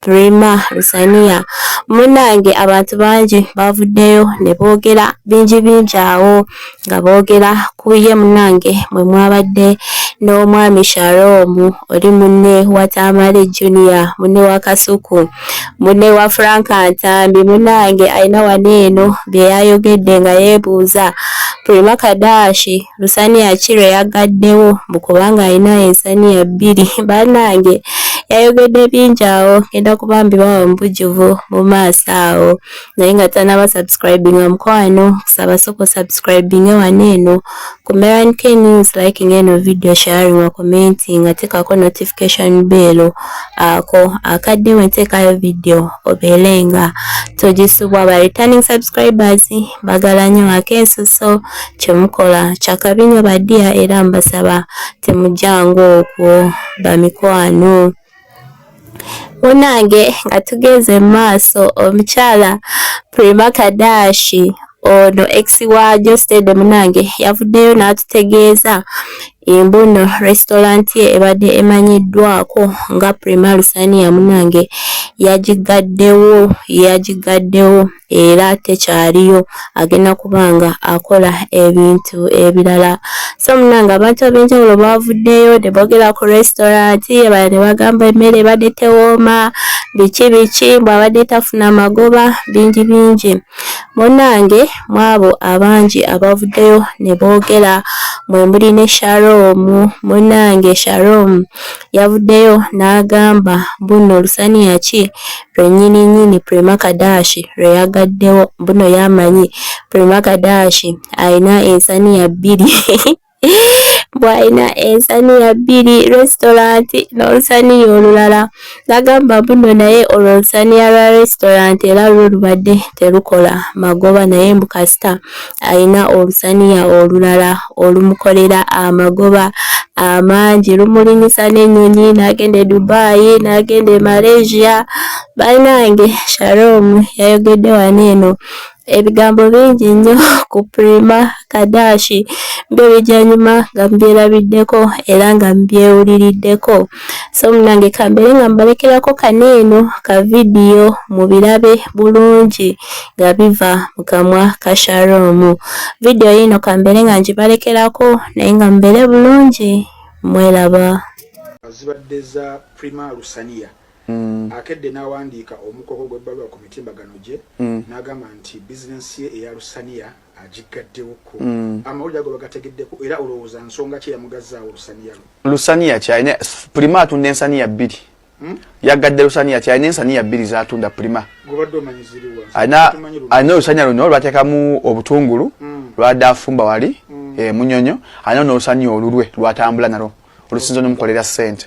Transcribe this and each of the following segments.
Rema Lusaniya. Munnange abantu bangi baavuddeyo ne boogera bingi bingi awo nga boogera ku ye munnange mwe mwabadde n'omwami Sharom oli munne wa Tamale Junior munne wa Kasuku munne wa Frank Ntambi munnange alina wano eno bye yayogedde nga yeebuuza Prima Kadashi lusaniya ki lwe yaggaddewo mbu kubanga alina ensaniya bbiri bannange yayogedde bingi awo ngenda kuba mbibawa mubujjuvu mu maaso awo naye nga tanaba subscribinga mukwano kusaba soko subscribinge wano eno ku meran k news liking eno video sharing wa commenting atekako notification bell ako akadde wenteekayo video obeelenga togisubwa ba returning subscribers bagala nyo akensuso kyemukola kyakabi nyo badiya era mbasaba temujanga okwo bamikwano munange nga tugeze mu maaso omukyala Prima Kadashi ono ex wa Jostede munange yavuddeyo n'atutegeeza Embu nno restaurant ye ebadde emanyiddwako nga Prima Lusaniya munange yagiggaddewo yagiggaddewo era tekyaliyo agenda kuba nga akola ebintu ebirala so munange abantu ab'enjawulo baavuddeyo ne boogera ku restaurant ebala ne bagamba emmere ebadde tewooma biki biki mbw'abadde tafuna magoba bingi bingi Munnange mw'abo abangi abavuddeyo ne boogera mwe muli ne Sharom. Munnange Sharom yavuddeyo n'agamba mbuno lusaniya ki lwe nnyini nnyini Prima Kadashi lwe yagaddewo mbuno y'amanyi Prima Kadashi alina ensaniya bbiri. bwalina ensaniya bbiri restaurant n'olusaniya olulala nagamba buno naye olwo olusaniya lwa restaurant era lwo lubadde terukola magoba naye mbu kasita alina olusaniya olulala olumukolera amagoba amangi lumulinyisa n'ennyonyi n'agenda e dubai n'agenda e malaysia banange sharom yayogedde wano eno ebigambo bingi nnyo ku Prima Kadashi ng'ebijannyuma nga mbyerabiddeko era nga mbyewuliriddeko so munange kambeere nga mbalekerako kano eno ka vidiyo mu birabe bulungi nga biva mu kamwa ka sharoomu vidiyo yiino kambeere nga ngibalekerako naye nga mubeere bulungi mweraba zibadde za Prima Lusaniya mm. akedde n'awandiika omukogo gw'ebbaluwa ku mitimbagano gye mm. n'agamba nti bizinensi ye eya lusaniya agiggaddewoko mm. amawulire ago bagategeddeko era olowooza nsonga ki eyamugazzaawo lusaniya lwe lusaniya kyalina pulima atunda ensaniya bbiri hmm? yaggadde lusaniya kyalina ensaniya bbiri zatunda pulima alina olusaniya luno lwateekamu obutungulu hmm. lwadde afumba wali hmm. e munyonyo alina n'olusaniya olulwe lwatambula nalwo olusinza nomukolera ssente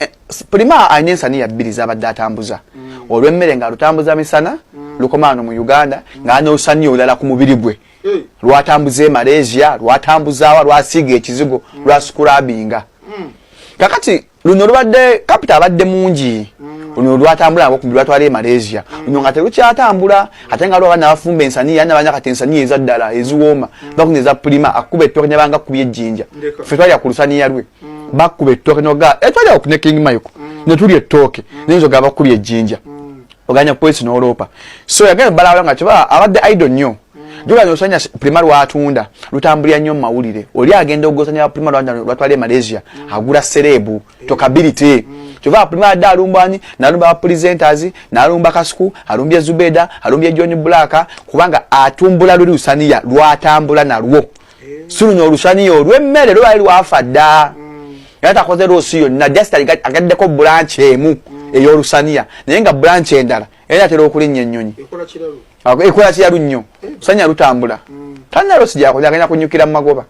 eh, prima alina ensaniya bbiri zabadde atambuza mm. olwemmere nga lutambuza misana mm. lukomaano mu uganda mm. nga anosaniya olulala ku mubiri gwe eh. lwatambuza e malaysia lwatambuzaawa lwasiiga ekizigo mm. lwasikurabinga mm. kakati luno lubadde kapita abadde mungi mm. luno lwatambula nabo kumbi lwatwala e malaysia mm. luno nga telukyatambula ate nga lwabaana bafumba ensaniya yani abanya kati ensaniya eza ddala eziwooma mm. bakuna eza pulima akuba ettooke nebanga kubya ejjinja fe twalya ku lusaniya lwe mm. bakuba ettooke noga etwali awo ne king mike mm. ne tuli ettooke mm. naye nzoga abakuli ejjinja mm. oganya polisi n'oloopa so yagenda balawula nga kiba abadde idol nnyo mm. joganya osanya prima lwatunda lutambulira nnyo mu mawulire oli agenda ogosanya prima lwatwala e malaysia mm. agula serebu mm. tokability mm. kyova apulima adde alumbani nalumba bapresenters nalumba kasuku alumbye zubeda alumbye john black kubanga atumbula luli usaniya lwatambula nalwo eh. silunya olusaniya olwemmere lwali lwafa dda mm. era takoze loosi yonna just agaddeko bulanci emu mm. eyolusaniya naye nga bulanci endala era atera okulinnya ennyonyi ekola kiralu nnyo eh. sanya lutambula mm. talina loosi gyakoze agenda kunyukira mu magoba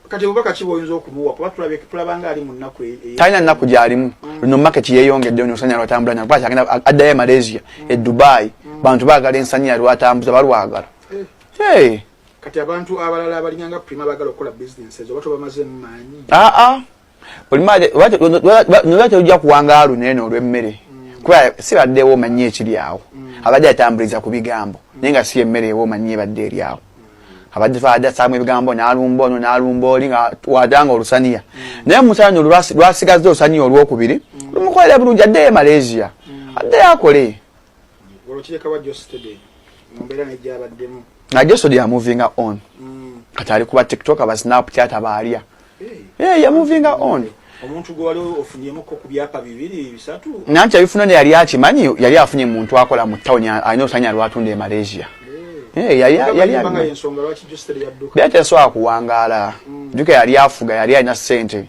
e-, e-, talina nnaku gyalimu luno market yeyongedde nyo sanya lwatambula nyo addayo e malaysia e dubai bantu baagala ensaniya lwatambuza balwagala eh. Kati abantu abalala abalinga nga Prima bagala okukola business ezo bato bamaze mmanyi. Ah ah. Prima wacho nwacho ujja kuwanga alu nene olwemmere. Mm. Kwa sibadde wo manyi ekiri awo. Mm. Abadde atambuliza ku bigambo. Mm. Nenga si emmere wo manyi badde eri awo. Mm. Abadde faada samu ebigambo n'alumba ono n'alumba oli nga wadanga olusaniya. Mm. Naye musanyo lwasigazza olusaniya olwokubiri. Mm. Lumukolera bulungi adde e Malaysia. Mm. Adde akole. nga josod yamuvinga on mm. kati ali kuba tiktok aba snapchat aba alya eh. yamuvinga on omuntu gwe wali ofunyemukko ku byapa bibiri bisatu nanti abifuna ne yali akimanyi yali afunye muntu akola mu town alina osanya lwatunda e malaysia eh. yali asobola kuwangaala mm. juka yali afuga yali alina sente